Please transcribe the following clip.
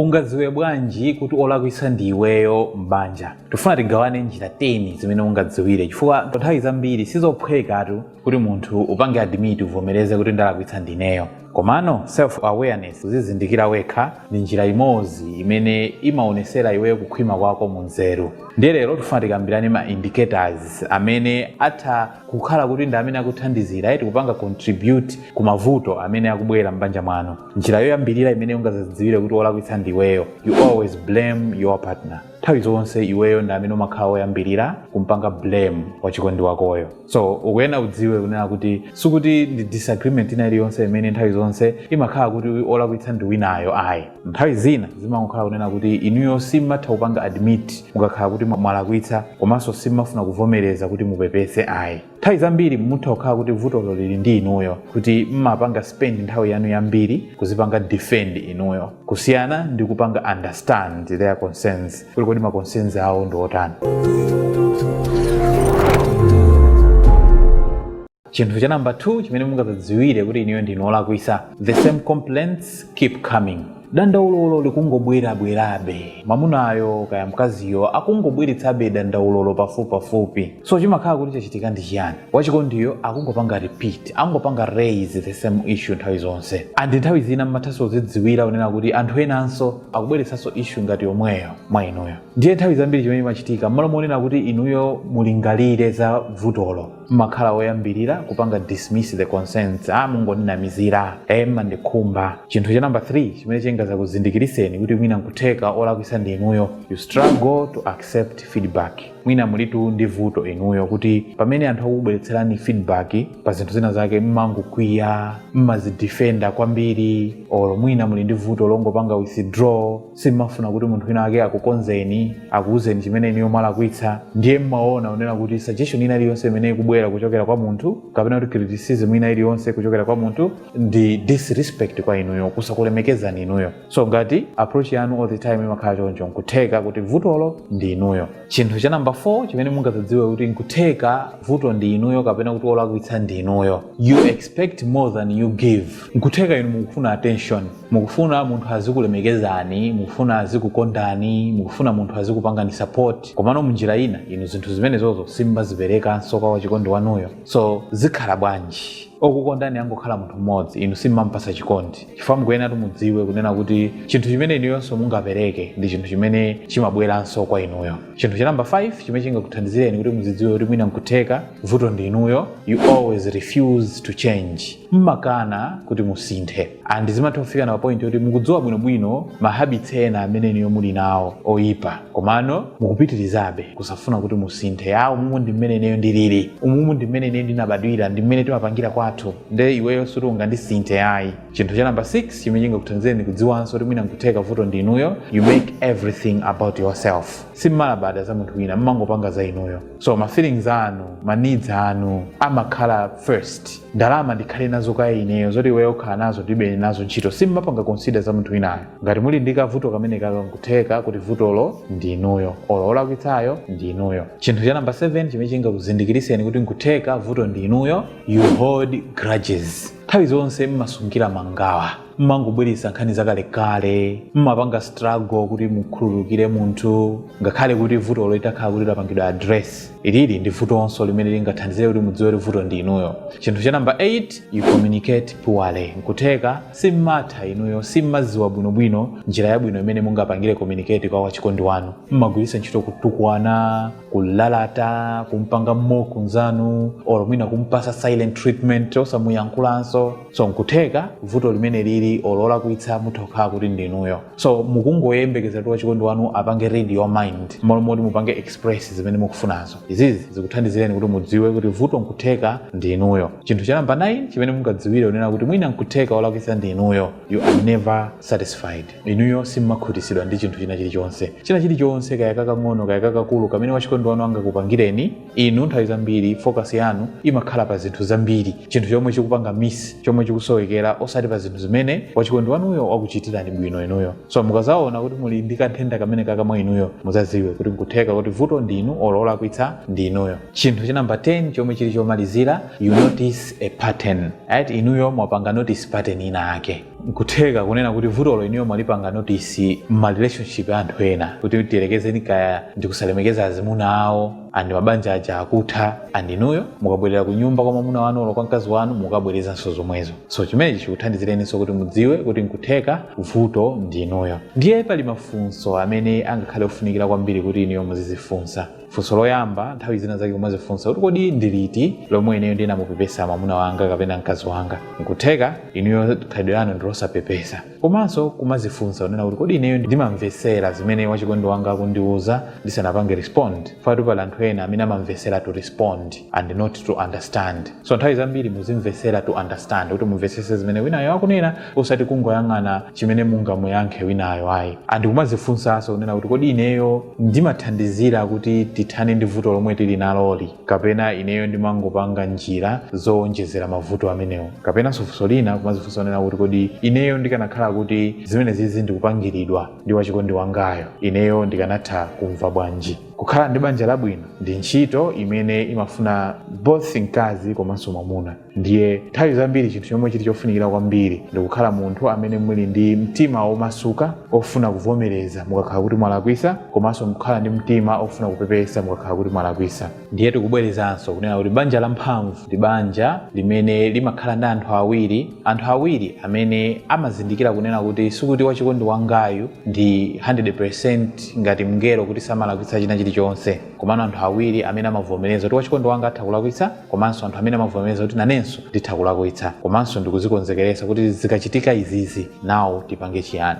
Ungadziwe bwanji kuti olakwitsa ndi iweyo m'banja? Tifuna tigawane njira 10 zimene ungadziwire chifukwa nthawi zambiri si zophwekatu kuti munthu upange admit, uvomereze kuti ndalakwitsa ndineyo. Komano self awareness, kudzizindikira wekha, ndi njira imodzi imene imaonetsera iweyo kukhwima kwako mu nzeru. Ndiye lero tifuna tikambirane ma indicators amene atha kukhala kuti ndi amene akuthandizira eti kupanga contribute ku mavuto amene akubwera m'banja mwanu. njira yoyambirira imene ungadzidziwire kuti olakwitsa ndi iweyo you always blame your partner nthawi zonse iweyo ndi amene umakhala woyambirira kumpanga blame wachikondi wakoyo so ukuyena udziwe kunena kuti sikuti ndi disagreement ina iliyonse imene nthawi zonse imakhala kuti olakwitsa ndi winayo ayi nthawi zina zimangokhala kunena kuti inuyo simatha kupanga admit mukakhala kuti mwalakwitsa komanso simafuna kuvomereza kuti mupepese ayi nthawi zambiri mutha kukhala kuti vutolo lili ndi inuyo kuti mmapanga spend nthawi yanu yambiri kuzipanga defend inuyo kusiyana ndi kupanga understand their concerns kuti kodi ma concerns awo ndi otani chinthu cha namba 2 chimene mungadzidziwire kuti inuyo ndinu olakwitsa the same complaints keep coming dandaulolo likungobwerabwerabe mamunayo kaya mkaziyo akungobweretsabe dandaulolo pafupipafupi so chimakhala kuti chachitika ndi chiyani wachikondiyo akungopanga repeat akungopanga raise the same issue nthawi zonse and nthawi zina mmathanso zidziwira kunena kuti anthu enanso akubweretsanso issue ngati yomweyo mwa inuyo ndiye nthawi zambiri chimene chimachitika mmalo monena kuti inuyo mulingalire za vutolo mmakhala oyambirira kupanga dismiss the concerns a mungondinamizira e mmandikhumba chinthu cha number 3 chimene chingazakuzindikiritseni kuti mwina nkutheka olakwitsa ndi inuyo you struggle to accept feedback mwina mulitu ndi vuto inuyo kuti pamene anthu akubweretserani feedback pa zinthu zina zake mmangokwiya mmazidefenda kwambiri or mwina muli ndi vuto longopanga withdraw simmafuna kuti munthu wina ake akukonzeni akuwuzeni chimene inuyo mwalakwitsa ndiye mmaona kunena kuti suggestion ina iliyonse imene ikubwera kuchokera kwa munthu kapena kuti criticism ina iliyonse kuchokera kwa munthu ndi disrespect kwa inuyo kusakulemekezani inuyo so ngati approach yanu all the time imakhala choncho nkutheka kuti vutolo ndi inuyo chinthu cha namba 4 chimene mungadzidziwe kuti nkutheka vuto ndi inuyo kapena kuti olakwitsa ndi inuyo you expect more than you give nkutheka inu mukufuna attention mukufuna munthu azikulemekezani mukufuna azikukondani mukufuna munthu azikupangani support komano munjira ina inu zinthu zimenezozo simmaziperekanso kwa wachikondi wanuyo so zikhala bwanji okukondani angokhala munthu mmodzi inu simmampasa chikondi chifukwa mukuyenatu mudziwe kunena kuti chinthu chimene inuyonso mungapereke ndi chinthu chimene chimabweranso kwa inuyo chinthu cha namba 5 chimene chingakuthandizireni kuti muzidziwe kuti mwina nkutheka vuto ndi inuyo you always refuse to change mmakana kuti musinthe and zimatha kufikana pa point yoti mukudziwa bwinobwino ma habits ena amene inuyo muli nawo oyipa komano mukupitirizabe kusafuna kuti musinthe a umumu ndi mmene ineyo ndilili umumu ndi mmene ineyo ndinabadwira ndi mmene timapangira kwathu nde iweyo suti ungandisinthe ayi chinthu cha namba 6 chimene chingakuthandizireni kudziwanso kuti mwina nkutheka vuto ndi inuyo you make everything about yourself simmalabada za munthu wina mmangopanga za inuyo so ma feelings anu ma needs anu amakhala first ndalama ndikhale nazo kaye ineyo zoti iweyo ukhala nazo ndilibe nazo ntchito simmapanga consider za munthu winayo ngati muli ndi kavuto kamene kaka nkutheka kuti vutolo ndi inuyo olo olakwitsayo ndi inuyo chinthu cha namba 7 chimene chingakuzindikiriseni kuti nkutheka vuto ndi inuyo you hold grudges nthawi zonse mmasungira mangawa mmangobweretsa nkhani zakalekale mmapanga struggle kuti mukhululukire munthu ngakhale kuti vutolo litakhala kuti lapangidwa address ilili ndi vutonso limene lingathandizire kuti mudziwe kuti vuto ndi inuyo chinthu cha namba 8 you communicate poorly nkutheka simmatha inuyo simmadziwa bwinobwino njira yabwino imene mungapangire communicate kwa wachikondi wanu mmagwiritsa ntchito kutukwana kulalata kumpanga mock nzanu or mwina kumpasa silent treatment osamuyankhulanso so nkutheka vuto limene lili or olakwitsa mutha kukhala kuti ndinuyo so mukungoyembekeza kuti wachikondi wanu apange read your mind mmalo moti mupange express zimene mukufunazo izizi zikuthandizireni kuti mudziwe kuti vuto nkutheka ndinuyo chinthu cha namba 9 chimene mungadziwire unena kuti mwina nkutheka olakwitsa ndinuyo you are never satisfied inuyo simmakhutisidwa ndi chinthu china chilichonse china chilichonse kaya kakang'ono kaya kakakulu kamene wachikondi wanu angakupangireni inu nthawi zambiri focus yanu imakhala pa zinthu zambiri chinthu chomwe chikupanga miss chomwe chikusowekera osati pa zinthu zimene wachikondi wanuyo wakuchitirani bwino inuyo so mukazaona kuti muli ndi kanthenda kamene kaka mwa inuyo muzaziwe kuti nkutheka kuti vuto ndi inu olo olakwitsa ndi inuyo chinthu cha namba 10 chomwe chili chomalizira you notice a pattern right inuyo mwapanga notice pattern ina yake nkutheka kunena kuti vutolo inuyo mwalipanga notice mma relationship a anthu ena kuti tiyerekezeni kaya ndikusalemekeza azimuna awo and mabanja aja akutha and inuyo mukabwerera ku nyumba kwa mwamuna wanu olo kwa mkazi wanu mukabwerezanso zomwezo so chimenechi chikuthandizireninso kuti mudziwe kuti nkutheka vuto ndi inuyo ndiye pali mafunso amene angakhale ofunikira kwambiri kuti inuyo muzizifunsa funso loyamba nthawi zina zake kumazifunsa kuti kodi ndi liti lomwe ineyo ndinamupepesa mwamuna wanga kapena mkazi wanga nkutheka inuyo khalidwe lanu ndi losapepesa komanso kumazifunsa kunena kuti kodi ineyo ndimamvetsera zimene wachikondi wanga akundiwuza ndisanapange respond fukwatu pali anthu ena amene amamvetsera to respond and not to understand so nthawi zambiri muzimvetsera to understand kuti mumvetsese zimene winayo akunena osati kungoyang'ana chimene mungamuyankhe winayo ayi and kumazifunsanso kunena kuti kodi ineyo ndimathandizira kuti tithane ndi vuto lomwe tili naloli kapena ineyo ndimangopanga njira zowonjezera mavuto amenewo kapenanso funso lina kumazifunsa kunena kuti kodi ineyo ndikanakhala kuti zimenezizi ndikupangiridwa ndi wachikondi wangayo ineyo ndikanatha kumva bwanji kukhala ndi banja labwino ndi ntchito imene imafuna both mkazi komanso mwamuna ndiye nthawi zambiri chinthu chomwe chili chofunikira kwambiri ndi kukhala munthu amene muli ndi mtima womasuka ofuna kuvomereza mukakhala kuti mwalakwisa komanso kukhala ndi mtima ofuna kupepesa mukakhala kuti mwalakwisa ndiye tikubwerezanso kunena kuti banja lamphamvu ndi banja limene limakhala ndi anthu awiri Anthu awiri amene amazindikira kunena kuti sikuti wachikondi wangayu ndi 100% ngati mngelo kuti samalakwitsa china chilichonse, komano anthu awiri amene amavomereza kuti wachikondi wanga atha kulakwitsa komanso anthu amene amavomereza kuti nanenso nditha kulakwitsa komanso ndikuzikonzekeretsa kuti zikachitika izizi nawo tipange chiyani.